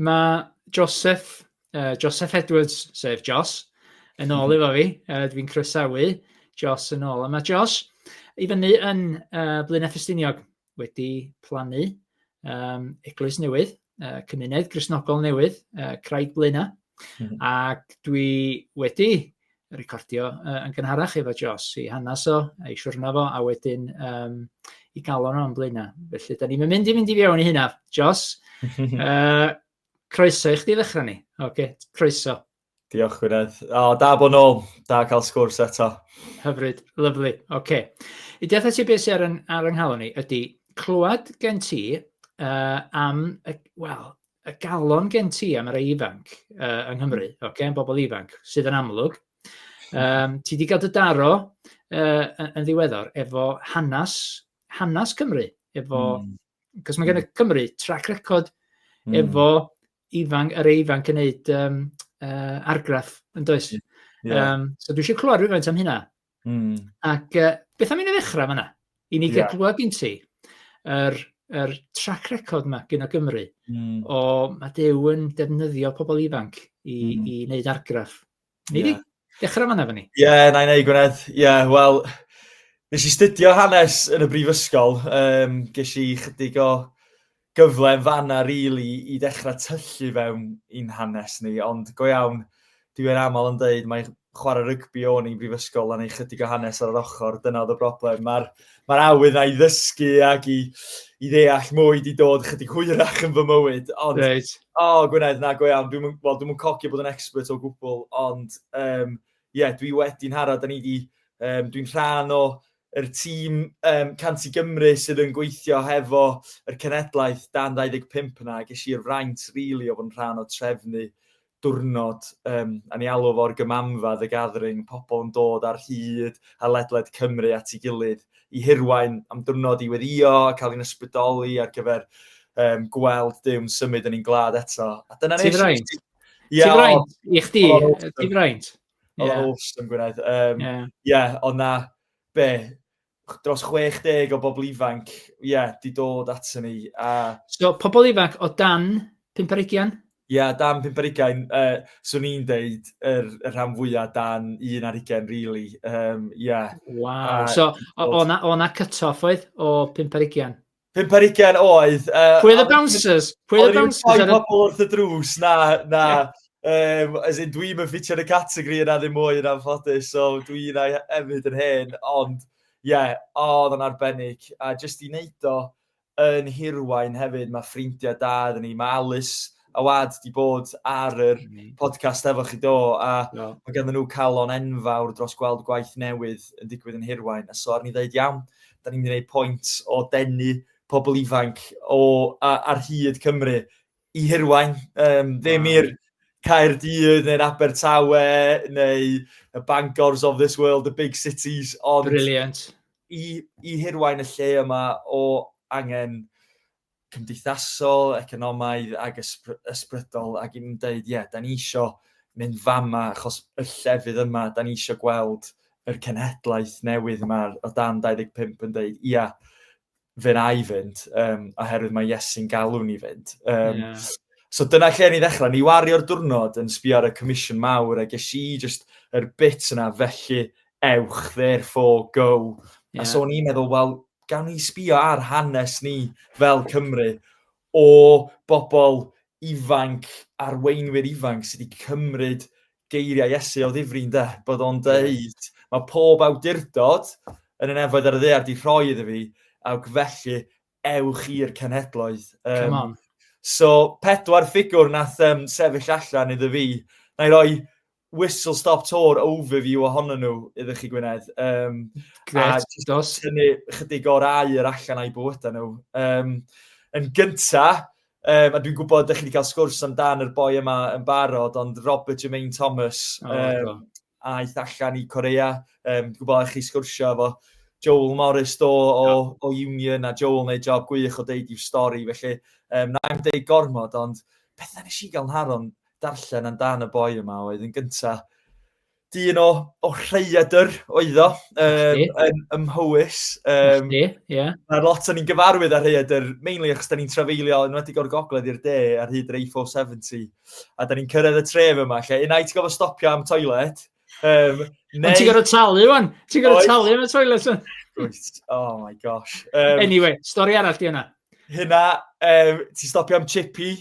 Mae Joseph, uh, Joseph Edwards, sef Jos, yn ôl efo fi. Uh, Dwi'n croesawu Jos yn ôl. A mae Jos i fyny yn uh, Blaenau Ffestiniog wedi plannu um, eglwys newydd, uh, cymuned grisnogol newydd, uh, Craig Blaenau. Mm -hmm. Ac dwi wedi recordio uh, yn gynharach efo Jos i hanes o, a'i siwrna fo, a wedyn um, i galon o'n blaenau. Felly, da ni'n mynd i fynd i fiewn i hynna. Jos, uh, croeso i chdi ddechrau ni. Oce, okay, croeso. Diolch, Gwynedd. O, oh, da bod nôl. Da cael sgwrs eto. Hyfryd. Lyflu. Oce. Okay. I deall ti beth sy'n ar, ar ynghalon ni ydy clywed gen ti uh, am, well, y galon gen ti am y rei ifanc uh, yng Nghymru, mm. okay, am bobl ifanc, sydd yn amlwg. Um, ti wedi cael dy daro uh, yn ddiweddar efo hanes, hanes Cymru, efo, mm. cos mae gen y hmm. Cymru trac record mm. efo ifanc, yr ifanc yn neud um, uh, argraff yn does. Yeah. Um, so dwi eisiau clywed rhywfaint am hynna. Mm. Ac uh, beth am i ni ddechrau fanna? I ni yeah. glywed gyn ti yr, yr track record yma gyn o Gymru mm. o mae Dew yn defnyddio pobl ifanc i, mm. i wneud argraff. Ni yeah. di dechrau fanna fan ni. Ie, yeah, na i wneud Gwynedd. Ie, yeah, wel, nes i studio hanes yn y brifysgol. Um, ges i chydig o Gyfle yn fan'na rili i ddechrau tyllu fewn i'n hanes ni, ond go iawn, dwi yn aml yn deud mai chwarae rygbi o'n i yn brifysgol a neu chydig o hanes ar yr ochr, dyna oedd y broblem. Mae'r ma awydd na i ddysgu ac i, i ddeall mwy di dod chydig hwyrach yn fy mywyd. Ond, right. o, oh, Gwynedd, na, go iawn, dwi'n well, dwi cogio bod yn expert o gwbl, ond um, yeah, dwi wedi'n hara, da ni wedi, um, dwi'n rhan o Yr tîm um, Cant i Gymru sydd yn gweithio hefo yr cenedlaeth dan 25 yna, ges i'r fraint rili really, o fod yn rhan o trefnu diwrnod, um, a ni alw fo'r gymanfa, the gathering, pobl yn dod ar hyd a ledled Cymru at ei gilydd i hirwain am diwrnod i weddio, cael ein ysbrydoli ar gyfer um, gweld dyw'n symud yn ein glad eto. A dyna ni. Ti'n fraint? Ti'n fraint? I chdi? Ti'n fraint? Oedd yeah. awesome, Gwynedd. Um, yeah. yeah, ond na, be, dros 60 o bobl ifanc, ie, yeah, di dod at ni. A... So, pobl ifanc o dan 50 Ie, yeah, dan 50 uh, swn i'n deud yr, y rhan fwyaf dan un ar ugen, really. Um, yeah. Wow. A, so, o'na cut-off oedd o 50 Pump ar ugain oedd. Uh, Pwy oedd y bouncers? Pwy oedd y bouncers? Oedd rhywun pobl wrth y drws, na, na. Yeah. Um, as in, dwi'n mynd ffitio yn y categori yna ddim mwy yn anffodus, so dwi'n ei hefyd yn hen, ond ie, yeah, oedd yn arbennig. A jyst i wneud o yn hirwain hefyd, mae ffrindiau da ydyn ni, mae Alice a wad di bod ar yr mm. podcast efo chi do, a no. mae gen nhw calon enfawr dros gweld gwaith newydd yn digwydd yn hirwain. A so ar ni ddeud iawn, da ni'n gwneud pwynt o denu pobl ifanc o, a, ar hyd Cymru i hirwain, um, ddim wow. i'r Caerdydd neu'r Abertawe neu y Bangors of this world, the big cities. Ond Brilliant. I, I hirwain y lle yma o angen cymdeithasol, economaidd ac ysbrydol ac yn dweud, ie, da ni eisiau mynd fama achos y llefydd yma, da ni eisiau gweld yr cenhedlaeth newydd yma o dan 25 yn dweud, ia, fe na i fynd, um, oherwydd mae Iesu'n galw ni fynd. Um, yeah. So dyna lle ni ddechrau. Ni wario'r diwrnod yn sbio ar y comisiwn mawr a ges i just yr bit yna, felly ewch, therefore, go. Yeah. A so ni'n meddwl, wel, gawn ni sbio ar hanes ni fel Cymru o bobl ifanc, arweinwyr ifanc sydd wedi cymryd geiriau Iesu o ddifri yn de, bod o'n dweud, mae pob awdurdod yn y nefoedd ar y ddear di rhoi iddo fi, awg felly ewch i'r cenhedloedd. Um, Come on. So, pedwar ffigwr nath um, sefyll allan iddo fi. Na i roi whistle stop tour overview ohono nhw iddo chi Gwynedd. Um, Gret, a dos. Tynnu chydig o'r air allan a'i bywydau nhw. Um, yn gynta, um, a dwi'n gwybod ydych chi wedi cael sgwrs amdan yr boi yma yn barod, ond Robert Jermaine Thomas, oh, um, aeth allan i Corea. Um, dwi'n gwybod ydych chi sgwrsio efo Joel Morris do o, yeah. o Union, a Joel wneud job gwych o deud i'w stori, felly um, na i'm deud gormod, ond beth nes i gael yn haron darllen amdan y boi yma oedd yn gynta. Dyn o, o rhaeadr oedd o, um, yn, ym Mhywys. Um, Ie. Yeah. Mae lot o'n i'n gyfarwydd ar rhaeadr, mainly achos da ni'n trafeilio yn wedi o'r gogledd i'r de ar hyd yr A470. A da ni'n cyrraedd y tref yma, lle unai ti'n gofod stopio am toilet, Um, neu... Ond ti'n gorau talu, wan? Ti'n gorau talu yn y toilet, wan? Oh my gosh. Um, anyway, stori arall di yna. Hynna, um, ti'n stopio am chippy,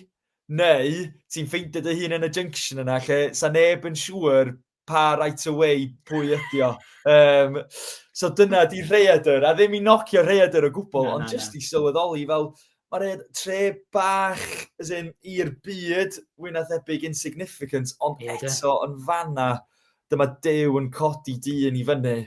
Neu ti'n ffeindio dy hun yn y junction yna lle sa neb yn siŵr pa right away pwy ydi o. Um, so dyna di rheadr, a ddim i nocio rheadr o gwbl, no, ond no, jyst no. i sylweddoli fel, mae'r rhead tre bach, as in, i'r byd, wyna thebyg insignificant, ond yeah, eto yn fanna, dyma Duw yn codi dyn i fyny.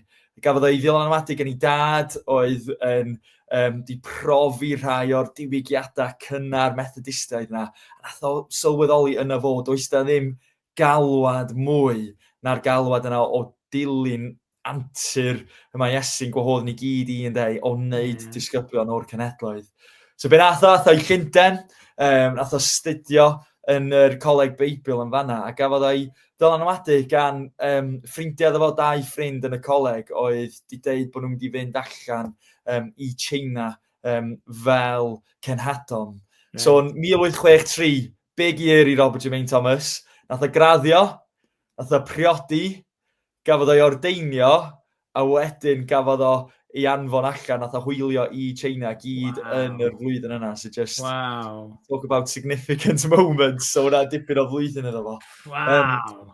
Gafodd ei ddylanwadu gen ei dad oedd yn um, di profi rhai o'r diwygiadau cynnar methodistaidd yna. A nath o sylweddoli yna fod, oes da ddim galwad mwy na'r galwad yna o dilyn antur y mae Iesu'n gwahodd ni gyd i yn deu o wneud mm. disgyblion o'r cenedloedd. So be nath o, nath o'i Llundain, um, nath o studio yn yr Coleg Beibl yn fanna, a gafodd o'i dylanwadu gan um, ffrindiau efo dau ffrind yn y coleg oedd wedi dweud bod nhw'n mynd i fynd allan um, i China um, fel cenhadon. Yeah. So, yn 1863, big year i Robert Jermaine Thomas, nath o graddio, nath o priodi, gafodd o'i ordeinio, A wedyn gafodd o ei anfon allan, nath o hwylio i China gyd wow. yn yr flwyddyn yna, so just wow. talk about significant moments, so hwnna dipyn o flwyddyn yna fo. Wow. Um,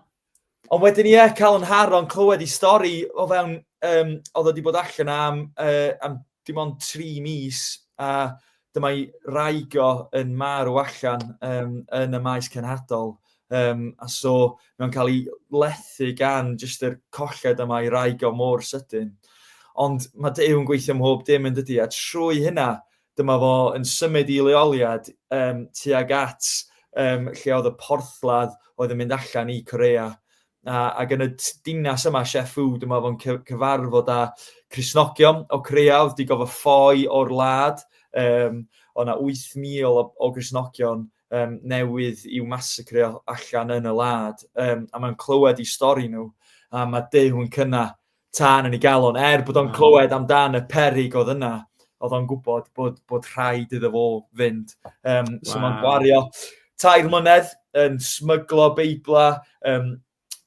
ond wedyn ie, yeah, cael yn haron clywed i stori o fewn, um, oedd wedi bod allan am, uh, am dim ond tri mis a dyma ei wraig o yn marw allan um, yn y maes cenhadol. Um, a so mae'n cael ei lethu gan jyst yr colled yma i wraig o mor sydyn. Ond mae Dew yn gweithio mhob dim yn dydy, a trwy hynna dyma fo yn symud i leoliad um, tuag at um, lle oedd y porthladd oedd yn mynd allan i Corea. a, ac yn y dinas yma, Sheffield, dwi'n meddwl fo'n cyfarfod â Crisnogion o Creuawdd, digon fy ffoi o'r lad. Um, o na 8,000 o, o Grisnogion um, newydd i'w masacreo allan yn y lad. Um, a mae'n clywed i stori nhw, a mae Duw yn cynna tân yn ei galon, er bod o'n clywed amdan y perig oedd yna, oedd o'n gwybod bod, bod rhaid iddo fo fynd. Um, so wow. mae'n gwario tair mlynedd yn smyglo beibla, um,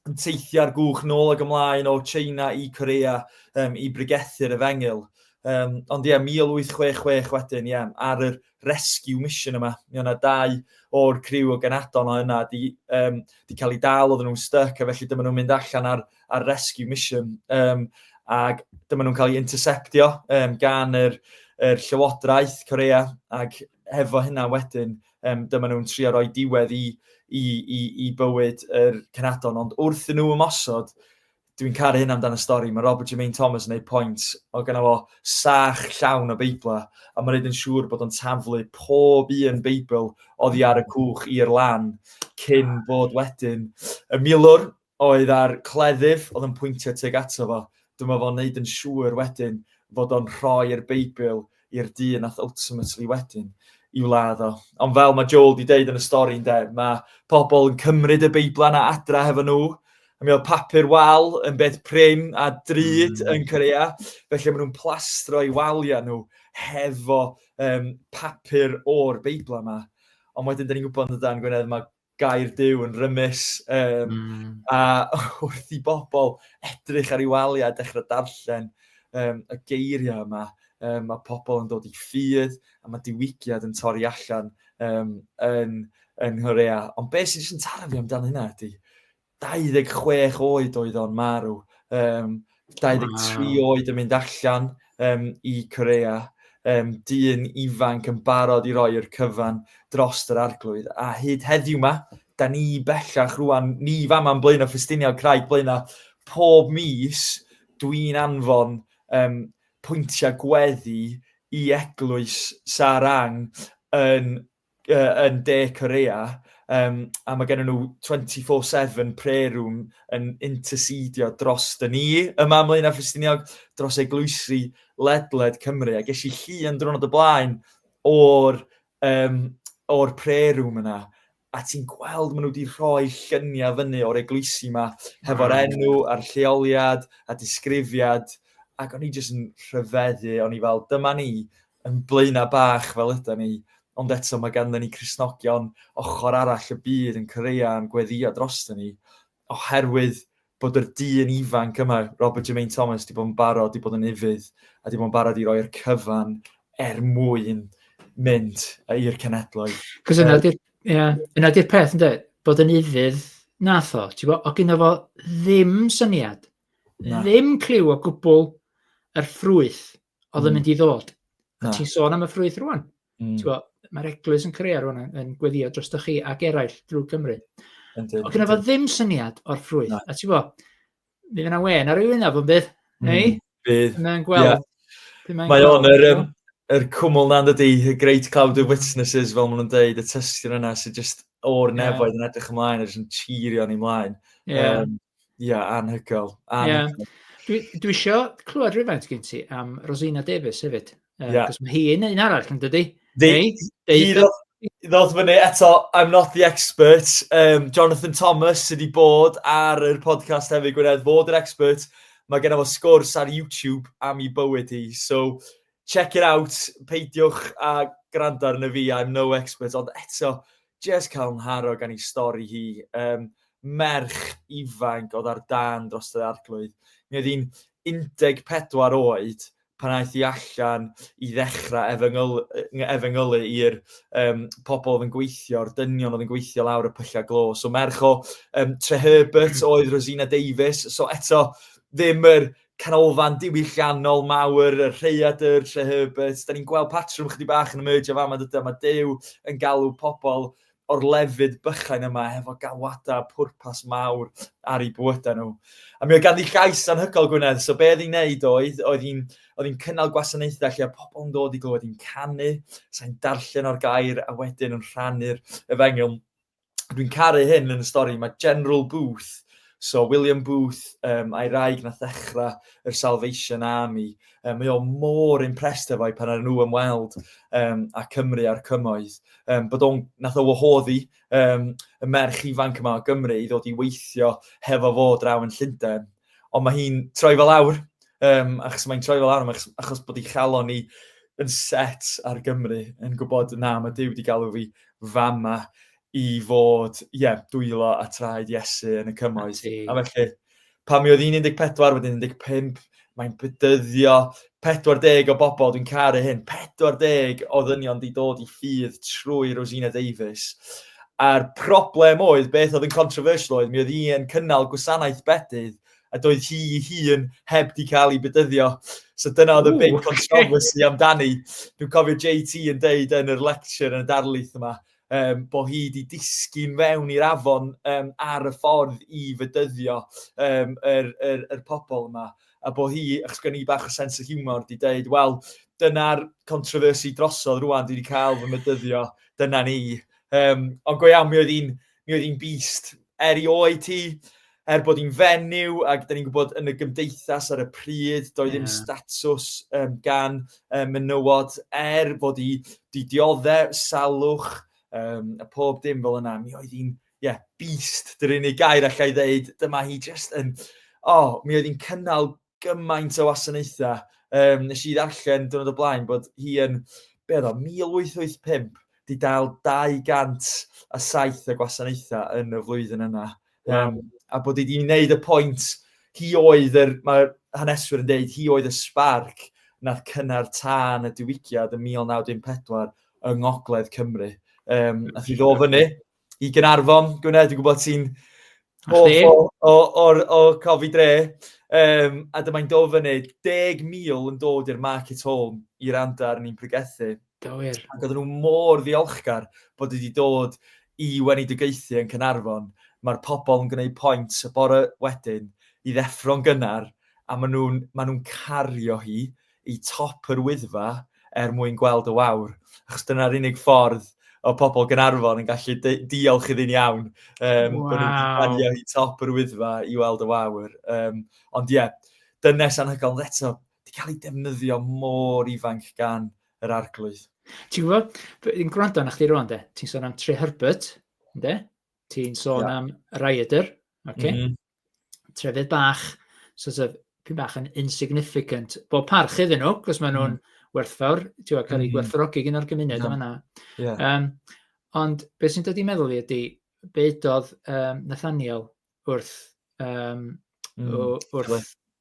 yn teithiau'r gwch nôl ag ymlaen o China i Corea um, i brigethu'r efengyl. Um, ond ie, yeah, 1866 wedyn, ie, yeah, ar yr rescue mission yma. Mi o'na dau o'r criw o Genadon o yna 'di um, 'di cael ei dal, oedden nhw'n styc, a felly dyma nhw'n mynd allan ar ar rescue mission Um, ac dyma nhw'n cael ei interceptio um, gan yr yr llywodraeth Corea ac hefo hynna wedyn um, dyma nhw'n trio roi diwedd i i i i bywyd yr Cenadon ond wrth i nhw ymosod dwi'n caru hyn amdano stori, mae Robert Jermaine Thomas yn ei pwynt o gyna fo sach llawn o Beibla, a mae'n rhaid yn siŵr bod o'n taflu pob un Beibl oddi ar y cwch i'r lan, cyn bod wedyn y milwr oedd ar cleddyf oedd yn pwyntio teg ato fo. Dyma fo'n neud yn siŵr wedyn fod o'n rhoi'r Beibl i'r dyn nath ultimately wedyn i'w ladd o. Ond fel mae Joel di deud yn y stori ynde, mae pobl yn cymryd y Beiblau na adra hefo nhw, a mi oedd papur wal yn beth prin a drud mm. yn Corea, felly maen nhw'n plastro i waliau nhw hefo um, papur o'r Beiblau yma. Ond wedyn, da ni'n gwybod yn y dan Gwynedd, mae gair Duw yn rymus, um, mm. a wrth i bobl edrych ar ei waliau a dechrau darllen um, y geiriau yma, um, mae pobl yn dod i ffydd a mae diwygiad yn torri allan um, yn, yn Horea. Ond beth sy'n jyst yn taro fi amdano hynna ydy, 26 oed oedd o'n marw. Um, 23 wow. oed yn mynd allan um, i Corea. Um, dyn ifanc yn barod i roi'r cyfan dros yr arglwydd. A hyd heddiw ma, da ni bellach rwan, ni fama yn blaen o ffestiniau Craig blaen pob mis dwi'n anfon um, pwyntiau gweddi i eglwys Sarang yn uh, yn De Corea, um, a mae gennym nhw 24-7 prayer room yn intercedio dros dy ni yma am Leina Ffristiniog, dros eglwysi ledled Cymru. A ges i chi yn drwrnod y blaen o'r, um, or prayer room yna a ti'n gweld maen nhw wedi rhoi lluniau fyny o'r eglwysi yma, hefo'r enw a'r lleoliad a disgrifiad, ac o'n i jyst yn rhyfeddu, o'n i fel, dyma ni, yn blaenau bach fel ydan ni, ond eto mae ganddyn ni Cristnogion ochr arall y byd yn creua'n gweddïo droston ni, oherwydd bod yr dyn ifanc yma, Robert Jermaine Thomas, di bod yn barod, di bod yn ufudd, a di bod yn barod i roi'r cyfan er mwyn mynd i'r cenedloedd. Cos yna di'r yeah, yna di'r peth ynddo, bod yn ufudd nath o, ti'n bod, o gyda fo ddim syniad, Na. ddim cliw o gwbl yr ffrwyth oedd yn mynd i ddod. A ti'n sôn am y ffrwyth rwan. Mm. Mae'r eglwys yn creu rwan yn gweddio dros chi ac eraill drwy Cymru. Oedd gyda fo ddim syniad o'r ffrwyth. No. A ti'n fo, bydd yna wen ar ei wynaf o'n bydd? Mm. Ei? Bydd. Mae'n gweld. Yeah. Mae o'n yr, um, yr cwmwl na ydy, y Great Cloud of Witnesses, fel maen nhw'n deud, y tystion yna sy'n just o'r nefoedd yeah. yn edrych ymlaen, yn cheerio ni ymlaen. Yeah. Um, Ie, anhygoel. Ie. Dwi, dwi isio clywed rhywfaint gen ti am Rosina Davies hefyd. Uh, yeah. Cos mae hi yn un arall yn dydy. Ddodd fyny eto, I'm not the expert. Um, Jonathan Thomas sydd wedi bod ar yr podcast hefyd, Gwynedd, fod yr expert. Mae gen fo sgwrs ar YouTube am i bywyd hi. So, Check it out, peidiwch a gwrando arno fi, I'm no expert, ond eto, jyst cael ngharw gan ei stori hi. Um, merch ifanc oedd ar dan dros yr arglwydd. Mi oedd hi'n 14 oed pan aeth i allan i ddechrau efengyl, efengylu i'r um, pobl oedd yn gweithio, o'r dynion oedd yn gweithio lawr y pyllau glo. So merch o um, Tre Herbert oedd Rosina Davies. So eto, ddim yr canolfan diwylliannol mawr, y Rhaeadr, Tre Herbert, da ni'n gweld patrwm chydig bach yn emerge o fama, dydy, mae Dew yn galw pobl o'r lefydd bychain yma hefo galwadau pwrpas mawr ar ei bywydau nhw. A mi oedd ganddi llais anhygol Gwynedd, so be oedd hi'n neud oedd, oedd hi'n oedd hi'n cynnal gwasanaethau lle oedd pobl yn dod i glywed hi'n canu, sa'n darllen o'r gair a wedyn yn rhannu'r efengyl dwi'n caru hyn yn y stori, mae General Booth, so William Booth um, a'i raig na ddechrau yr Salvation Army, um, mae o mor impressed efo'i pan ar nhw ymweld um, a Cymru a'r cymoedd, um, bod o'n nath o wahoddi um, y merch ifanc yma o Gymru i ddod i weithio hefo fo draw yn Llundain. ond mae hi'n troi fel awr, um, achos mae'n troi fel awr, achos, achos bod ei chalon ni yn set ar Gymru, yn gwybod na, mae Dyw wedi galw fi fama i fod, ie, yeah, dwylo a traed Iesu yn y cymoedd. A felly, pan mi oedd hi'n 14, wedyn 15, mae'n bydyddio, 40 o bobl, dwi'n caru hyn, 40 o ddynion wedi dod i ffydd trwy Rosina Davies. A'r problem oedd, beth oedd yn controversial oedd, mi oedd hi'n cynnal gwasanaeth bedydd, a doedd hi hun heb di cael ei bedyddio. So dyna oedd y big controversy amdani. Dwi'n cofio JT yn deud yn yr lecture yn y darlith yma, um, bod hi wedi disgyn fewn i'r afon um, ar y ffordd i fydyddio um, yr, yr, yr pobl yma. A bod hi, achos gen i bach o sens o humor, di dweud, wel, dyna'r controversy drosodd rwan, dwi wedi cael fy mydyddio, dyna ni. Um, ond go iawn, mi oedd hi'n mi oedd hi'n beast, erioed ti, er bod hi'n fenyw ac da ni'n gwybod yn y gymdeithas ar y pryd, doedd ddim yeah. statws um, gan um, menywod er bod hi di dioddau, salwch, um, a pob dim fel yna. Mi oedd hi'n, ie, yeah, beast, dyn ni'n ei gair allai ddeud, dyma hi just yn, oh, mi oedd hi'n cynnal gymaint o wasanaethau. Um, nes i ddarllen dwrnod o blaen bod hi yn, be oedd o, 1885, di dal 207 o gwasanaethau yn y flwyddyn yna. Um, a bod hi wedi wneud y pwynt, hi oedd, yr, mae haneswyr yn dweud, hi oedd y sbarc nath cynnar tân y diwygiad yn 1914 yng Ngogledd Cymru. Um, nath i ddo fyny, i Gynarfon. Gwne, dwi'n gwybod ti'n hoff o, o, o, cofi dre. Um, a dyma'n dod fyny 10,000 yn dod i'r market home i randa ar ni'n pregethu. Gywir. Ac oedden nhw mor ddiolchgar bod wedi dod i wenidigaethu yn Cynarfon. Mae'r pobl yn gwneud pwynt y bore wedyn i ddeffro'n gynnar a maen nhw'n ma nhw cario hi i top yr Wyddfa er mwyn gweld y wawr, achos dyna'r unig ffordd o pobl Gynarfon yn gallu diolch iddi'n iawn. Um, wow. Bod nhw'n planio i top yr Wyddfa i weld y wawr. Um, ond ie, yeah, dynes anhygoel, ond eto, di cael ei defnyddio mor ifanc gan yr arglwydd. Ti'n gwybod, yn gwrando na chdi rwan, de, ti'n sôn am Tre Herbert, de? ti'n sôn yeah. am Raider, okay? mm -hmm. trefydd bach, sort of, pyn bach yn insignificant. Bo parch iddyn nhw, cos maen nhw'n mm. werthfawr, ti'n cael ei mm. gwerthfawrogi gyn o'r gymuned yeah. yma. Yeah. Um, ond beth sy'n dod i meddwl i ydy, beidodd um, Nathaniel wrth, um, mm. wrth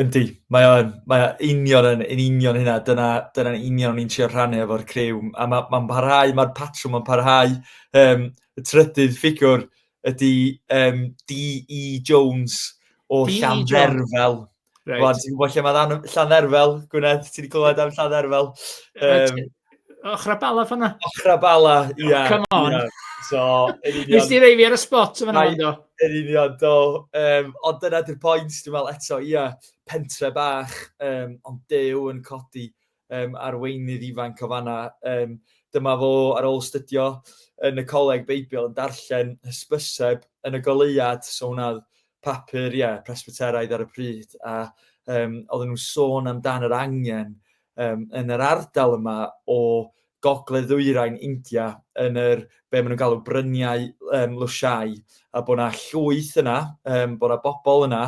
Yndi, mae o yn. Mae o union yn, yn union hynna. Dyna, dyna'n union o'n i'n trio rhannu efo'r criw. A mae ma parhau, mae'r patrwm yn parhau. Um, y trydydd ffigwr ydy um, D.E. Jones o e. Llandderfel. Right. Wel, ti'n gwybod lle mae Llandderfel, Gwynedd? Ti wedi clywed am Llandderfel? Um, Ochrau Bala fanna? Ochrau Bala, ie. Yeah, Come on. Yeah. So, yn union... Nes ti rei fi ar y spot yn fanna, do? Yn union, do. Um, ond dyna di'r pwynt, dwi'n meddwl eto, ie, yeah, pentre bach, um, ond dew yn codi um, arweinydd ifanc o fanna. Um, dyma fo ar ôl stydio yn y coleg Beibl yn darllen hysbyseb yn y goleuad, so hwnna papur, ie, Presbyteraidd ar y pryd, a um, oedden nhw'n sôn amdan yr angen um, yn yr ardal yma o gogledd ddwyrain India yn yr, be maen nhw'n galw bryniau um, lwsiau, a bod yna llwyth yna, um, bod yna bobl yna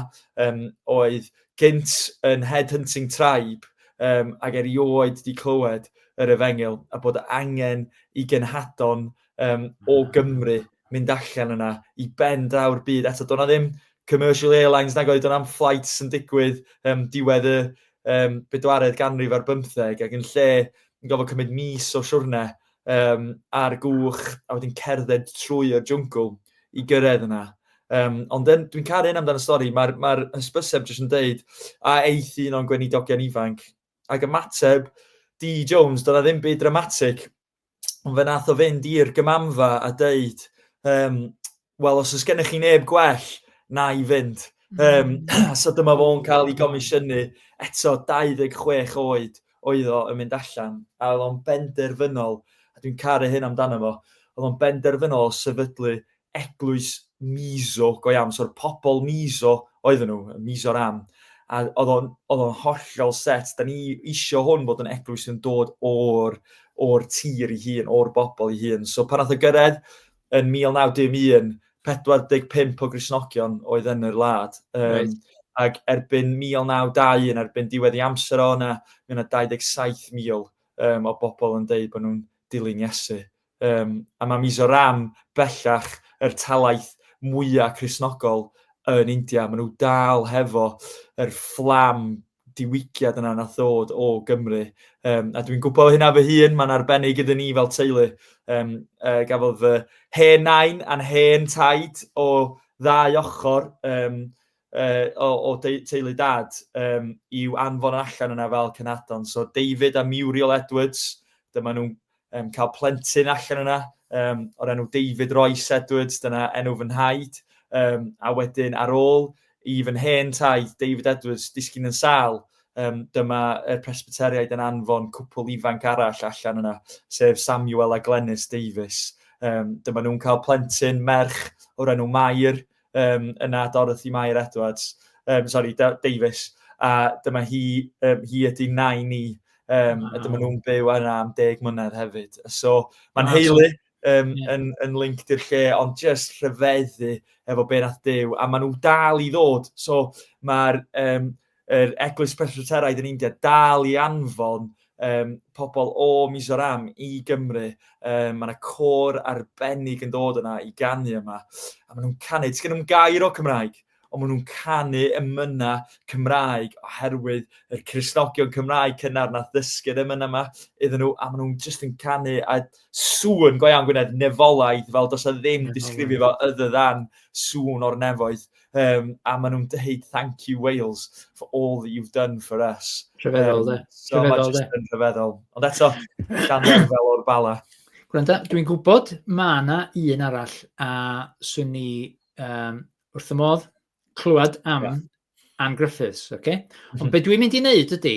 um, oedd gynt yn headhunting tribe um, ac erioed wedi clywed yr efengil, a bod angen i genhadon um, o hmm. Gymru mynd allan yna i ben draw'r byd. Eto, do'na ddim commercial airlines nag oedd do'na am flights yn digwydd um, diwedd y um, bedwaredd ganrif ar bymtheg ac yn lle yn gofod cymryd mis o siwrne um, ar gwch a wedyn cerdded trwy y jwngl i gyrraedd yna. Um, ond dwi'n caru hyn amdano'r stori, mae'r ma, r, hysbyseb jyst yn dweud a eith un o'n gweinidogion ifanc ac ymateb D. Jones, dyna ddim byd dramatic, Ond fe nath o fynd i'r gymanfa a deud, um, wel, os oes gennych chi neb gwell, na i fynd. Um, so dyma fo'n cael ei gomisiynu eto 26 oed oedd o yn mynd allan. A oedd o'n benderfynol, a dwi'n caru hyn amdano fo, oedd o'n benderfynol sefydlu eglwys Mizo go iawn, so'r pobl Mizo oedden nhw, y Mizoram, a oedd o'n, oedd o'n hollol set, da ni eisiau hwn bod yn eglwys yn dod o'r, o'r tir i hun, o'r bobl i hun. So pan nath o gyrraedd yn 1911, 45 o grisnogion oedd yn yr wlad. Um, right. Ac erbyn 1921, erbyn diwedd i amser o yna, mae yna 27,000 um, o bobl yn dweud bod nhw'n dilyn Iesu. Yym, a mae Mizoram bellach yr talaith mwya' Cristnogol yn India. Maen nhw dal hefo yr fflam diwygiad yna nath ddod o Gymru. Um, a dwi'n gwybod hynna fy hun, mae'n arbennig gyda ni fel teulu. Um, uh, gafodd fy hen nain a'n hen taid o ddau ochr um, o, o teulu dad um, i'w anfon allan yna fel cynhadon. So David a Muriel Edwards, dyma nhw'n um, cael plentyn allan yna um, o'r enw David Royce Edwards, dyna enw fy nhaid. Um, a wedyn ar ôl i fy hen taid David Edwards disgyn yn sal, um, dyma y presbyteriaid yn anfon cwpl ifanc arall allan yna, sef Samuel a Glenys Davies. Um, dyma nhw'n cael plentyn merch o'r enw Mair, um, yna Dorothy Mair Edwards, um, sorry, Davis, a dyma hi, um, hi ydy nai ni, um, a dyma nhw'n byw yna am deg mlynedd hefyd. So, mae'n heili um, yeah. yn, yn linked i'r lle, ond just rhyfeddu efo be nath dew, a maen nhw dal i ddod. So, mae'r um, Yr Eglwys Presbyteraidd yn India dal i anfon um, pobl o Mizoram i Gymru. Um, mae yna cor arbennig yn dod yna i ganu yma. A maen nhw'n canu, ti'n nhw'n gair o Cymraeg, ond maen nhw'n canu ymyna Cymraeg oherwydd y Cresnogion Cymraeg cynnar nath ddysgu'r ymyna yma iddyn nhw, a maen nhw'n just yn canu a sŵn go iawn Gwynedd, nefolaidd, fel dos a ddim disgrifio fo ydda ddan sŵn o'r nefoedd. Um, a maen nhw'n dweud, thank you Wales for all that you've done for us. Rhyfeddol, um, de. So rhyfeddol, de. Rhyfeddol. Ond eto, gan fel o'r bala. Gwranda, dwi'n gwybod mae yna un arall a swn ni um, wrth y modd clywed am yeah. Anne Griffiths, oce? Okay? Ond mhm. be dwi'n mynd i wneud ydy,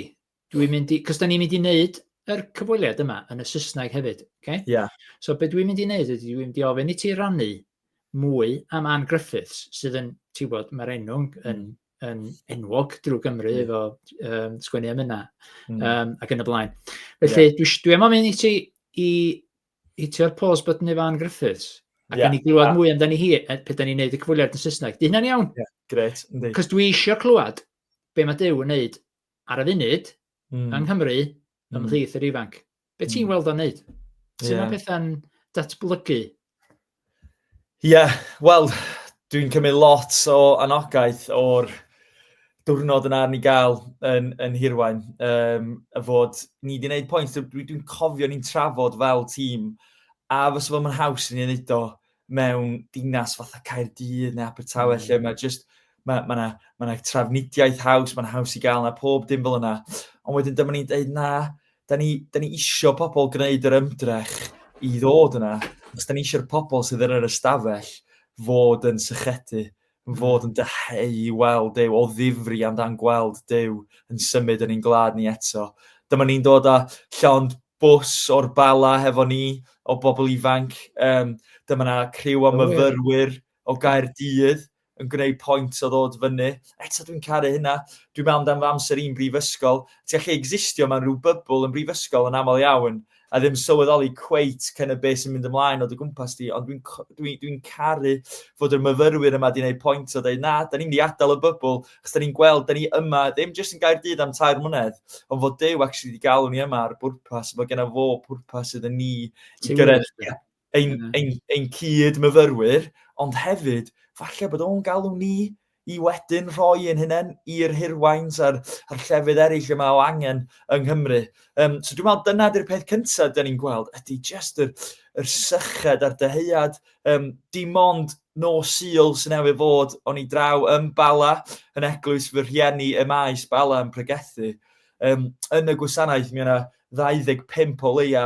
dwi'n mynd i, cos da ni'n mynd i wneud yr cyfweliad yma yn y Saesneg hefyd, okay? Yeah. So be dwi'n mynd i wneud ydy dwi'n mynd i ofyn i ti rannu mwy am Anne Griffiths, sydd yn, ti'n bod, mae'r enw yn, yn, yn enwog drwy Gymru mm. efo um, sgwennu am yna mm. um, ac yn y blaen. Felly, yeah. dwi, dwi am mynd i ti i hitio'r pause button efo Anne Griffiths, ac yeah. ni glywed yeah. mwy amdani hi, e, pe da ni'n neud y cyfweliad yn Saesneg. Di hynna'n iawn? Yeah. Gret, ynddi. Cos dwi eisiau clywed be mae Dew yn neud ar y funud, mm. yng Nghymru, mm. ymhlith yr ifanc. Be ti'n mm. weld o'n neud? Sut yeah. mae pethau'n datblygu? Ie, yeah, wel, dwi'n cymryd lot o anogaeth o'r diwrnod yna ni gael yn, yn hirwain, um, y fod ni wedi gwneud pwynt, dwi'n dwi cofio ni'n trafod fel tîm, a fes fod mae'n haws i ni'n neud o, mewn dinas fatha Caerdydd neu Abertawe mm. lle mae just mae ma yna ma yna trafnidiaeth haws, mae'n haws i gael yna pob dim fel yna. Ond wedyn dyma ni'n dweud na, da ni, da ni isio pobl gwneud yr ymdrech i ddod yna, os da ni eisiau'r pobl sydd yn yr ystafell fod yn sychedu yn fod yn dyheu i weld Duw, o ddifri amdan gweld Duw yn symud yn ein gwlad ni eto. Dyma ni'n dod â llond bws o'r bala hefo ni o bobl ifanc. Um, dyma na criw o myfyrwyr o Gaerdydd yn gwneud pwynt o ddod fyny. Eto dwi'n caru hynna. Dwi'n meddwl amdano fy amser i'n brifysgol. Ti'n gallu existio mewn rhyw bybl yn brifysgol yn aml iawn, a ddim sylweddoli cweit cyn y beth sy'n mynd ymlaen o dy gwmpas di, ond dwi'n dwi, dwi caru fod yr myfyrwyr yma di wneud pwynt o dweud, na, da ni'n mynd i adael y bybl, chos da ni'n gweld, da ni yma, ddim jyst yn gair dyd am tair mlynedd, ond fod Dyw actually wedi galw ni yma ar bwrpas, fod genna fo pwrpas iddyn ni i gyrraedd ein, mm. ein, ein cyd-myfyrwyr, ond hefyd, falle bod o'n galw ni i wedyn rhoi ein hunain i'r hirwains a'r, ar llefydd eraill yma o angen yng Nghymru. Um, so dwi'n meddwl dyna di'r peth cyntaf dyn ni'n gweld, ydy just yr, yr syched a'r dyheuad, um, dim ond no sil sy'n efo fod o'n i draw yn Bala, yn eglwys fy rhieni y maes Bala yn pregethu. Um, yn y gwasanaeth, mi yna 25 o leia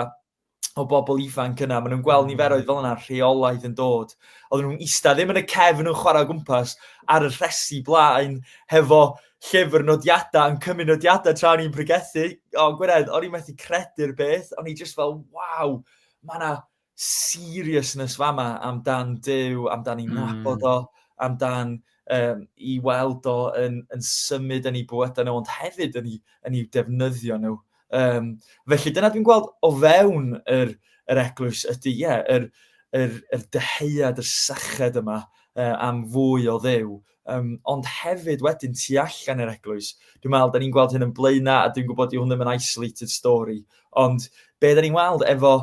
o bobl ifanc yna, maen nhw'n gweld niferoedd fel yna rheolaidd yn dod. Oedden nhw'n eista ddim yn y cefn yn chwarae o gwmpas ar y rhesi blaen hefo llyfr nodiadau yn cymryd nodiadau tra ni'n pregethu. O, Gwynedd, o'n i'n methu credu'r beth, o'n i just fel, waw, mae yna seriousness fama amdan Dyw, amdan i'n hmm. nabod o, amdan um, i weld o yn, yn symud yn ei bywydau nhw, ond hefyd yn ei, yn ei defnyddio nhw. Um, felly dyna dwi'n gweld o fewn yr, yr eglwys ydy, ie, yeah, yr, yr, yr dyheuad, yr syched yma uh, am fwy o ddew. Um, ond hefyd wedyn tu allan yr eglwys, dwi'n meddwl, da ni'n gweld hyn yn blaena a dwi'n gwybod i hwn ddim yn isolated story, ond be da ni'n weld efo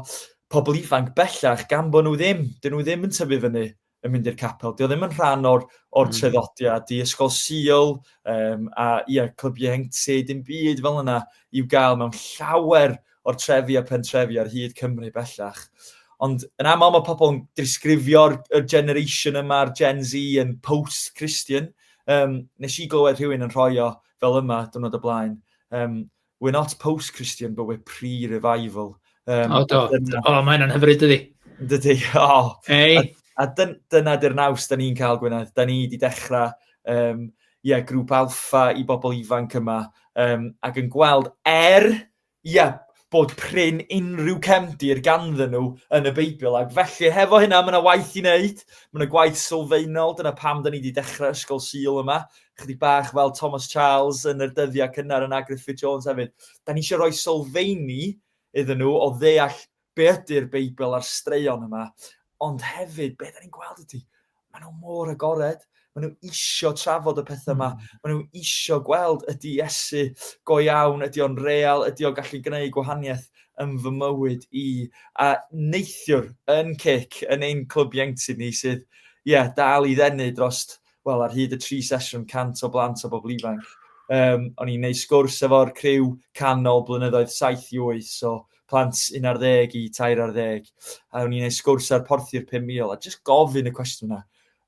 pobl ifanc bellach gan bod nhw ddim, dyn nhw ddim yn tyfu fyny yn mynd i'r capel. Dio ddim yn rhan o'r, or mm. treddodiad i ysgol Sil um, a ia, clyb ieuenctid, dim byd fel yna i'w gael mewn llawer o'r trefi a pentrefi ar hyd Cymru bellach. Ond yn aml mae pobl yn disgrifio'r generation yma, a'r Gen Z yn post-Christian. Um, nes i glywed rhywun yn rhoi o fel yma, dwrnod y blaen. Um, We're not post-Christian, but we're pre-revival. Um, o, do. Dyna... O, mae hynna'n hyfryd, ydi. Dydy, o. Oh. Hey. A, a dyn, dyna dy'r naws da ni'n cael, Gwynedd. Da ni wedi dechrau um, yeah, grŵp alfa i bobl ifanc yma um, ac yn gweld er, yeah, bod prin unrhyw cefndir ganddyn nhw yn y Beibl. Ac felly, hefo hynna, mae yna waith i wneud. Mae yna gwaith sylfaenol. Dyna pam da ni wedi dechrau Ysgol Sil yma. chydig bach fel Thomas Charles yn yr dyddiau cynnar yn Agriff Fit Jones hefyd. Da ni eisiau rhoi sylfeini iddyn nhw o ddeall be ydy'r Beibl a'r straeon yma, ond hefyd, be da ni'n gweld ydy, maen nhw mor agored, maen nhw isio trafod y pethau yma, hmm. maen nhw isio gweld ydy Iesu go iawn, ydy o'n real, ydy o'n gallu gwneud gwahaniaeth yn fy mywyd i. A neithiwr yn cic yn ein clwb ieunctid ni sydd, ie, yeah, dal i ddenu drost wel, ar hyd y tri sesiwn, 100 o blant o bobl ifanc. Um, o'n i'n neud sgwrs efo'r criw canol blynyddoedd 7 i 8, so plant 11 i 13, a o'n i'n neud sgwrs ar porthi'r 5,000, a jyst gofyn y cwestiwn yna.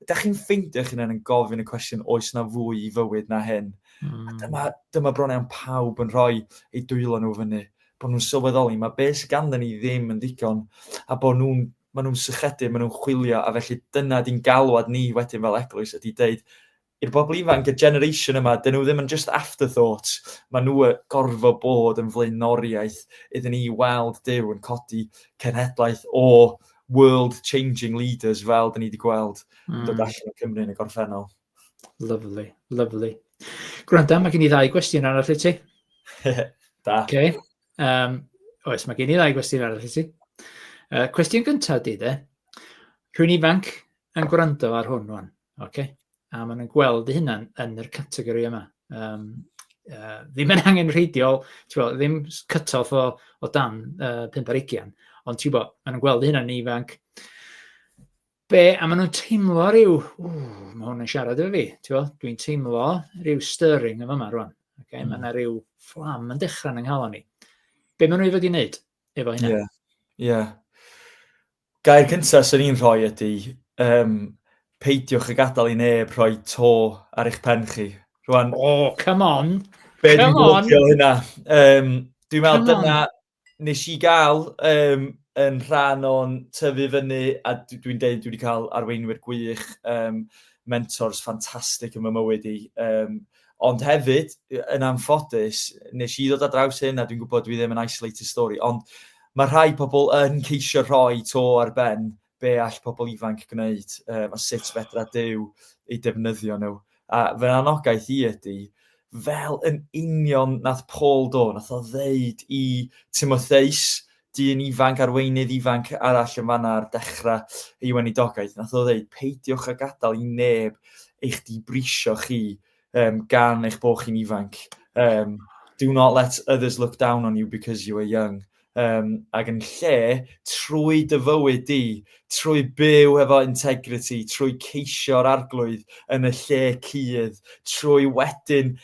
Da chi'n ffeindio chi'n yn gofyn y cwestiwn oes na fwy i fywyd na hyn? Mm. A hmm. dyma, dyma bron iawn pawb yn rhoi ei dwylo nhw fyny bod nhw'n sylweddoli mae beth sydd ganddyn ni ddim yn ddigon a bod nhw'n maen nhw'n sychedig, maen nhw'n chwilio, a felly dyna di'n galwad ni wedyn fel eglwys ydy deud i'r bobl ifanc, y generation yma, dyn nhw ddim yn just afterthoughts, maen nhw gorfod bod yn flaenoriaeth iddyn ni weld Dyw yn codi cenhedlaeth o world-changing leaders fel dyn ni wedi gweld mm. dod hmm. allan o Cymru yn y gorffennol. Lovely, lovely. Gwranda, mae gen i ddau gwestiwn arall i ti. da. Okay. Um, oes, mae gen i ddau gwestiwn arall i ti. Uh, cwestiwn gyntaf di de. Rwy'n ifanc yn gwrando ar hwn o'n, okay? a maen nhw'n gweld eu hunan yn yr categori yma. Um, uh, ddim yn angen rheidiol, bo, ddim cut-off o, o dan uh, 5 ar 20, ond ti'n bod, maen nhw'n gweld eu hunan yn ifanc. be, a maen nhw'n teimlo rhyw, ww, mae hwn yn siarad efo fi, ti'n dwi'n teimlo rhyw stirring efo yma rwan. Okay? Mm. Mae yna rhyw fflam yn dechrau yn ynghalon ni. Be maen nhw i fod i wneud efo hynny? Ie. Yeah. Yeah. Gair cyntaf sy'n ni'n rhoi ydy, um, peidiwch y gadael i neb rhoi to ar eich pen chi. Rwan, oh, come on! Be come dwi'n gwybod hynna? Um, dwi'n meddwl dyna, wnes i gael um, yn rhan o'n tyfu fyny, a dwi'n deud dwi wedi cael arweinwyr gwych, um, mentors ffantastig yn fy mywyd i. Um, ond hefyd, yn anffodus, nes i ddod â draws hyn, a dwi'n gwybod dwi ddim yn isolated story, ond mae rhai pobl yn ceisio rhoi to ar ben be all pobl ifanc gwneud um, a sut fedra Dyw ei defnyddio nhw. A fy anogaeth i ydy, fel yn union nath Paul do, nath o ddeud i Timotheus, dyn ifanc, arweinydd ifanc arall yn fanna ar dechrau ei wenidogaeth, nath o ddeud, peidiwch a gadael i neb eich dibrisio chi um, gan eich bod chi'n ifanc. Um, do not let others look down on you because you are young. Um, ac yn lle, trwy dyfywyd di, trwy byw efo integrity, trwy ceisio'r arglwydd yn y lle cydd, trwy wedyn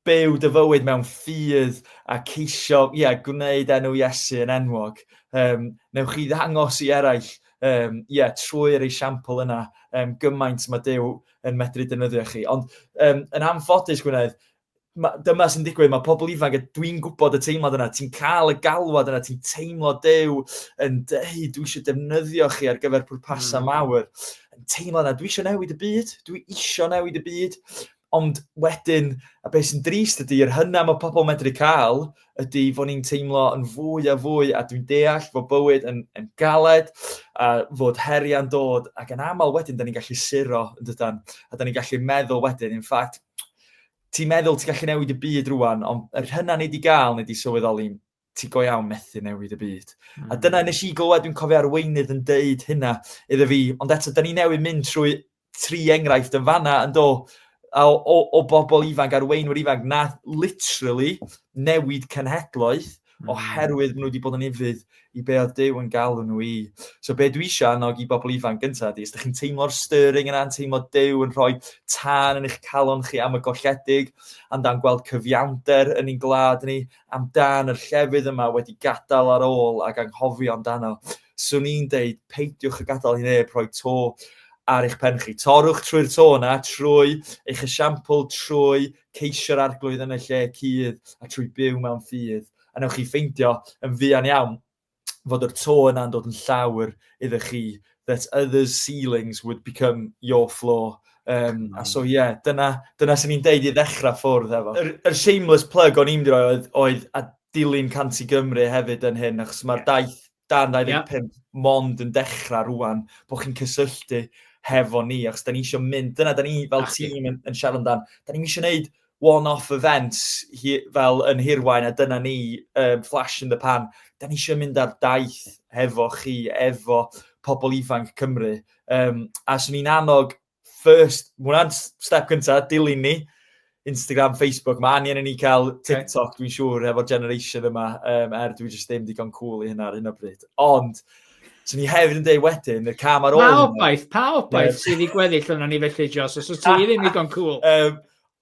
byw dy fywyd mewn ffydd a ceisio, ie, yeah, gwneud enw Iesu yn enwog. Um, newch chi ddangos i eraill, um, yeah, trwy'r esiampl yna, um, gymaint mae Dyw yn medru defnyddio chi. Ond um, yn anffodus, Gwynedd, ma, dyma sy'n digwydd, mae pobl ifanc, dwi'n gwybod y teimlad yna, ti'n cael y galwad yna, ti'n teimlo dew yn dweud, dwi eisiau defnyddio chi ar gyfer pwrpasau mm. mawr. Yn teimlo yna, dwi eisiau newid y byd, dwi eisiau newid y byd, ond wedyn, a beth sy'n drist ydy, yr hynna mae pobl medru cael, ydy fod ni'n teimlo yn fwy a fwy, a dwi'n deall fod bywyd yn, yn galed, a fod heriau'n dod, ac yn aml wedyn, da ni'n gallu suro, yn dydan, a da ni'n gallu meddwl wedyn, in ffact, ti'n meddwl ti'n gallu newid y byd rwan, ond yr hynna ni wedi gael, ni wedi sylweddoli, ti go iawn methu newid y byd. Mm. A hmm. dyna nes i glywed, dwi'n cofio arweinydd yn deud hynna iddo fi, ond eto, da ni newid mynd trwy tri enghraifft yn fanna yn do, o, o, o bobl ifanc, arweinwyr ifanc, na literally newid cenhedloedd hmm. oherwydd maen nhw wedi bod yn ufudd i be oedd Dyw yn galw nhw i. So be dwi eisiau annog i bobl ifanc gyntaf ydy, os ydych chi'n teimlo'r stirring yna, yn teimlo Dyw yn rhoi tân yn eich calon chi am y golledig, amdan gweld cyfiawnder yn ein glad ni, amdan yr llefydd yma wedi gadael ar ôl ac anghofio amdano. swn i'n deud peidiwch a gadael i neb rhoi to ar eich pen chi. Torwch trwy'r to yna, trwy eich esiampl, trwy ceisio'r arglwydd yn y lle cudd a trwy byw mewn ffydd. A newch chi ffeindio yn fuan iawn fod yr to yna'n dod yn llawr iddo chi, that others' ceilings would become your floor. Um, a so ie, yeah, dyna, dyna sy'n ni'n deud i ddechrau ffwrdd efo. Yr, yr shameless plug o'n i'n mynd i roi oedd, oedd a dilyn Canti Gymru hefyd yn hyn, achos mae'r daith dan 25 yeah. mond yn dechrau rwan, bod chi'n cysylltu hefo ni, achos da ni eisiau mynd, dyna da ni fel tîm yn, yn siarad amdan, da ni eisiau gwneud one-off events hi, fel yn hirwain a dyna ni um, flash in the pan. Da ni eisiau mynd ar daith hefo chi, efo pobl ifanc Cymru. Um, a swn i'n annog first, mae hwnna'n step cyntaf, dilyn ni. Instagram, Facebook, mae angen i ni cael TikTok, dwi'n siŵr, efo'r generation yma, um, er dwi'n just ddim digon cool i hynna ar hyn o bryd. Ond, so ni hefyd yn dweud wedyn, y cam ar ôl... Pa obaith, pa obaith sydd wedi gweddill yna ni felly, Jos, os wyt ti ddim digon cool. Um,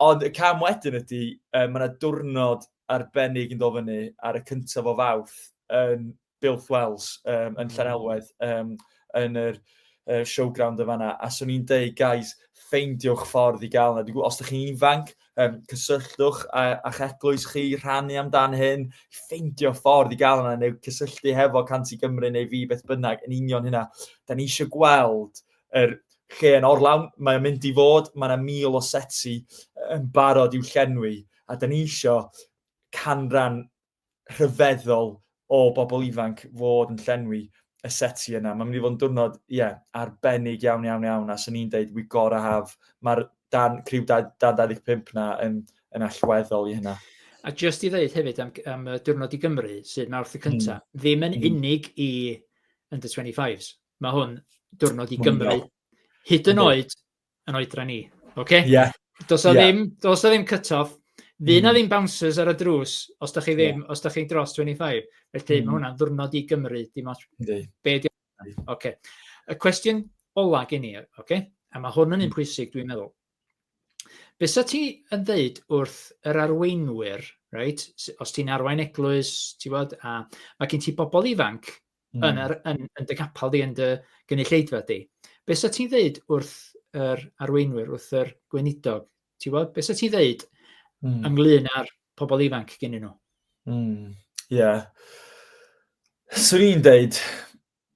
ond y cam wedyn ydy, um, mae yna diwrnod arbennig yn dod fyny ar y cyntaf o fawrth yn Builth Wells um, yn Llanelwedd um, yn yr uh, showground yn fanna, a swn i'n deud, guys, ffeindiwch ffordd i gael yna. Os ydych chi'n ifanc, um, cysylltwch a, a'ch eglwys chi, rhannu amdan hyn, ffeindio ffordd i gael yna, neu cysylltu hefo Canti Gymru neu fi beth bynnag yn union hynna. Da ni eisiau gweld yr lle yn orlawn, mae'n mynd i fod, mae yna mil o seti yn barod i'w llenwi, a da ni eisiau canran rhyfeddol o bobl ifanc fod yn llenwi y seti yna. Mae'n mynd i fod yn diwrnod, ie, yeah, arbennig iawn, iawn, iawn, a sy'n ni'n dweud, we gotta have, mae'r dan, criw dan 25 na yn, yn allweddol i hynna. A just i ddeud hefyd am, am diwrnod i Gymru, sydd mawrth y cyntaf, mm. ddim yn mm. unig i under 25s. Mae hwn diwrnod i Gymru. Hyd yn oed yn oedran ni. Okay? Yeah. Does o yeah. ddim, does o ddim cut-off. Fy na hmm. ddim bouncers ar y drws os da chi ddim, yeah. os da chi'n dros 25. Felly mm. mae hmm. hwnna'n ddwrnod i Gymru. Dim ots. Be di okay. Y cwestiwn ola gen i, okay? a mae hwn yn un hmm. pwysig dwi'n meddwl. Be sa ti yn ddeud wrth yr arweinwyr, right? os ti'n arwain eglwys, ti bod, a mae gen ti bobl ifanc mm. yn, ar, yn, yn dy capel di, yn dy gynulleidfa di. Be sa ti'n ddeud wrth yr arweinwyr, wrth yr gweinidog? Ti'n bod? Be sa ti'n ddeud mm. ynglyn â'r pobl ifanc gen nhw? Ie. Mm. Yeah. Swn i'n deud,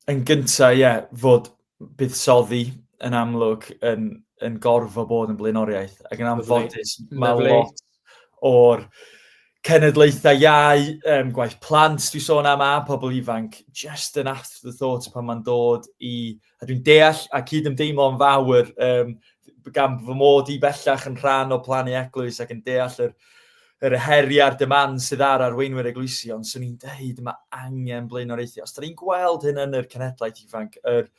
yn gyntaf, ie, yeah, fod buddsoddi yn amlwg yn, yn gorfod bod yn blaenoriaeth, ac yn anffodus mae lot o'r cenedlaethau iau, um, gwaith plant, dwi'n sôn am a pobl ifanc, just yn afterthought pan mae'n dod i... A dwi'n deall a cyd ymdeimlo yn fawr um, gan fy mod i bellach yn rhan o plannu eglwys ac yn deall yr Yr heriau a'r demand sydd ar arweinwyr eglwysi, ond swn i'n dweud mae angen blaenoriaethu. Os da ni'n gweld hyn yn yr cenhedlaeth ifanc, yr,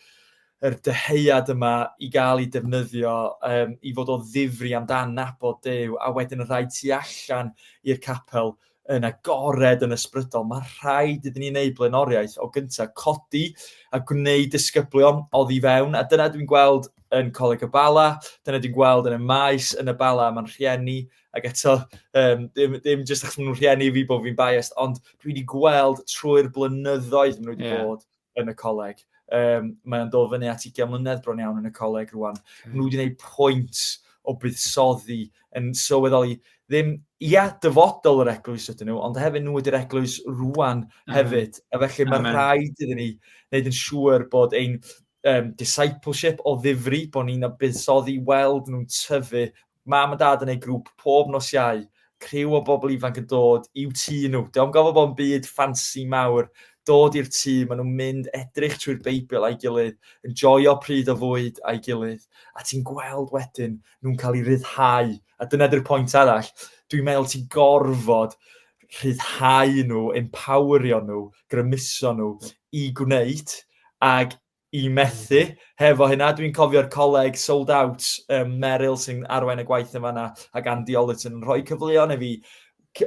yr dyheuad yma i gael ei defnyddio um, i fod o ddifri amdan nabod Dew, a wedyn rhaid tu allan i'r capel yn agored yn ysbrydol. Mae rhaid iddyn ni wneud blaenoriaeth o gyntaf, codi a gwneud disgyblion oddi fewn, a dyna dwi'n gweld yn Coleg y Bala, dyna dwi'n gweld yn y maes, yn y Bala, mae'n rhieni, Ac eto, um, ddim, ddim jyst achos maen nhw'n rhieni fi bod fi'n biased, ond dwi wedi gweld trwy'r blynyddoedd maen nhw wedi yeah. bod yn y coleg. Um, mae'n dod fyny at 20 mlynedd bron iawn yn y coleg rwan. Okay. Maen nhw wedi gwneud pwynt o buddsoddi yn sylweddoli ddim, ia, dyfodol yr eglwys ydyn nhw, ond hefyd nhw ydy'r eglwys rwan hefyd. Mm. A felly mae'n rhaid iddyn ni wneud yn siŵr bod ein um, discipleship o ddifri, bod ni'n buddsoddi weld nhw'n tyfu Mam a dad yn eu grŵp pob nos Iau, criw o bobl ifanc yn dod i'w tŷ nhw. Dio'm gofo bod yn byd ffansi mawr, dod i'r tŷ, ma' nhw'n mynd edrych trwy'r Beibl a'i gilydd, yn joio pryd o fwyd a'i gilydd, a ti'n gweld wedyn nhw'n cael eu rhyddhau, a dyna 'di'r pwynt arall, dwi'n meddwl ti'n gorfod rhyddhau nhw, empowerio nhw, grymuso nhw i gwneud, ag i methu hefo hynna. Dwi'n cofio'r coleg sold out um, Meryl sy'n arwain y gwaith yn fanna ac Andy Ollit yn rhoi cyfleon i fi.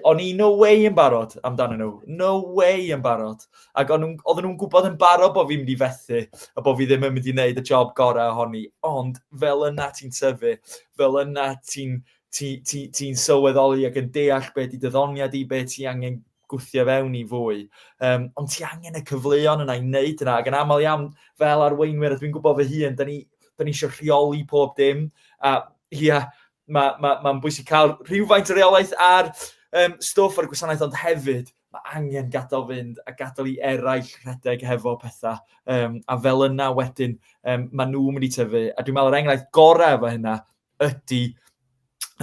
O'n i no way yn barod amdano nhw. No way yn barod. Ac oedden nhw'n gwybod yn barod bod fi'n mynd i fethu a bod fi ddim yn mynd i wneud y job gorau ohoni. Ond fel yna ti'n tyfu, fel yna ti'n ti, ti, ti sylweddoli ac yn deall beth i dyddoniad i, beth ti angen gwthio fewn i fwy. Um, ond ti angen y cyfleon yna i wneud yna, ac yn aml iawn fel arweinwyr, a dwi'n gwybod fy hun, da ni, da ni eisiau rheoli pob dim, a ia, yeah, mae'n ma, ma, ma bwysig cael rhywfaint o reolaeth ar um, stwff ar y gwasanaeth, ond hefyd mae angen gadael fynd a gadael i eraill rhedeg hefo pethau. Um, a fel yna wedyn, um, maen nhw'n mynd i tyfu. A dwi'n meddwl, yr enghraifft gorau efo hynna ydy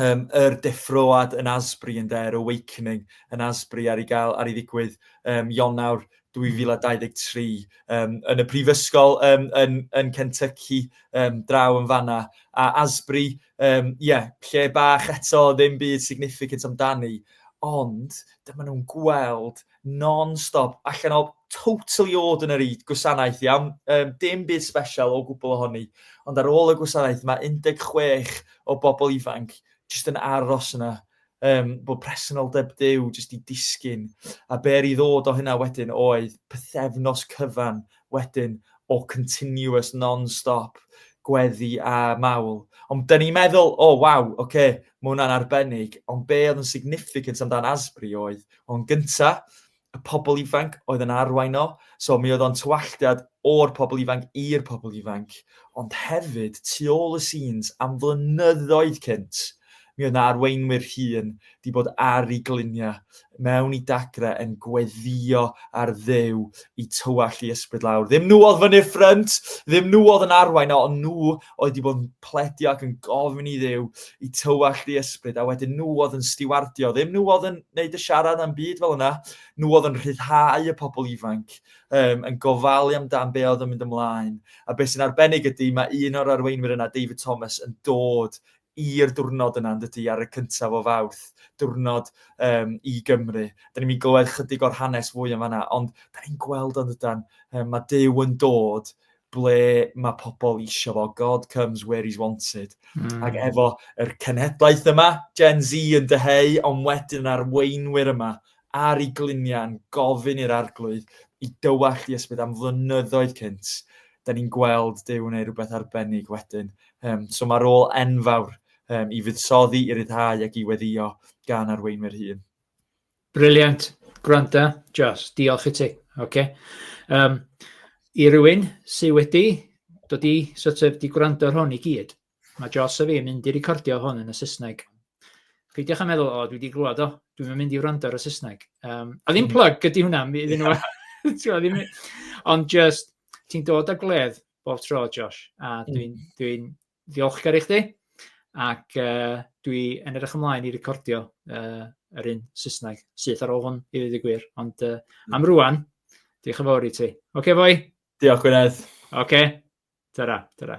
um, yr deffroad yn Asbury yn der, Awakening yn Asbury ar ei gael, ar ei ddigwydd um, Ionawr 2023 um, yn y prifysgol um, yn, yn Kentucky um, draw yn fanna. A Asbury, um, yeah, lle bach eto ddim byd significant amdani, ond dyma nhw'n gweld non-stop, allan o totally ordinary gwasanaeth iawn, um, dim byd special o gwbl ohoni, ond ar ôl y gwasanaeth mae 16 o bobl ifanc jyst yn aros yna, um, bod presenoldeb dew jyst i disgyn, a ber i ddod o hynna wedyn oedd pethefnos cyfan wedyn o continuous non-stop gweddi a mawl. Ond da ni'n meddwl, o oh, waw, oce, okay, mae hwnna'n arbennig, ond be oedd yn significant amdan Asbury oedd, o'n gynta, y pobl ifanc oedd yn arwain o, so mi oedd o'n tywalltiad o'r pobl ifanc i'r pobl ifanc, ond hefyd tu ôl y scenes am flynyddoedd cynt, Mi oedd 'na arweinwyr hŷn 'di bod ar i glinia mewn i dagre yn gweddio ar Dduw i tywallt i ysbryd lawr. Ddim nhw oedd fyny'r ffrynt, ddim nhw oedd yn arwain, ond nhw oedd 'di bod yn pledio ac yn gofyn i Dduw i tywallt i ysbryd, a wedyn nhw oedd yn stiwardio. Ddim nhw oedd yn neud y siarad am byd fel yna, nhw oedd yn rhyddhau y pobl ifanc, um, yn gofalu amdan be oedd yn mynd ymlaen. A beth sy'n arbennig ydy, mae un o'r arweinwyr yna, David Thomas, yn dod i'r diwrnod yna yn dydy, ar y cyntaf o Fawrth, diwrnod um, i Gymru. Da ni'n mynd i glywed chydig o'r hanes fwy yn fanna, ond da ni'n gweld o'n dydan, um, mae Dyw yn dod ble mae pobl eisiau fo. God comes where he's wanted. Mm. Ac efo yr cenhedlaeth yma, Gen Z yn dyheu, ond wedyn arweinwyr yma ar ei gliniau'n gofyn i'r Arglwydd i dywallt i ysbryd am flynyddoedd cynt, da ni'n gweld Duw yn ei rhywbeth arbennig wedyn. Um, so mae'r ôl enfawr um, i fuddsoddi, i ryddhau ac i weddio gan arweinwyr hun. Briliant. Gwranda, Jos, diolch i ti. Okay. Um, I rywun sydd wedi dod i sort of, di gwrando ar hwn i gyd, Mae Joss a fi'n mynd i recordio hwn yn y Saesneg. Peidiwch a meddwl, o, dwi wedi glwad o, dwi'n mynd i wrando ar y Saesneg. Um, a ddim mm. plug ydy hwnna, iddyn nhw. ddim, ond just, ti'n dod â gledd bob tro, Josh, a mm. dwi'n dwi, dwi ddiolchgar i chdi, ac uh, dwi yn edrych ymlaen i recordio uh, yr un Saesneg syth ar ôl hwn, i ddweud y gwir. Ond uh, am rwan, diolch yn fawr i ti. Oce, okay, fwy? Diolch, Gwynedd. Oce, okay. ta-ra, ta-ra.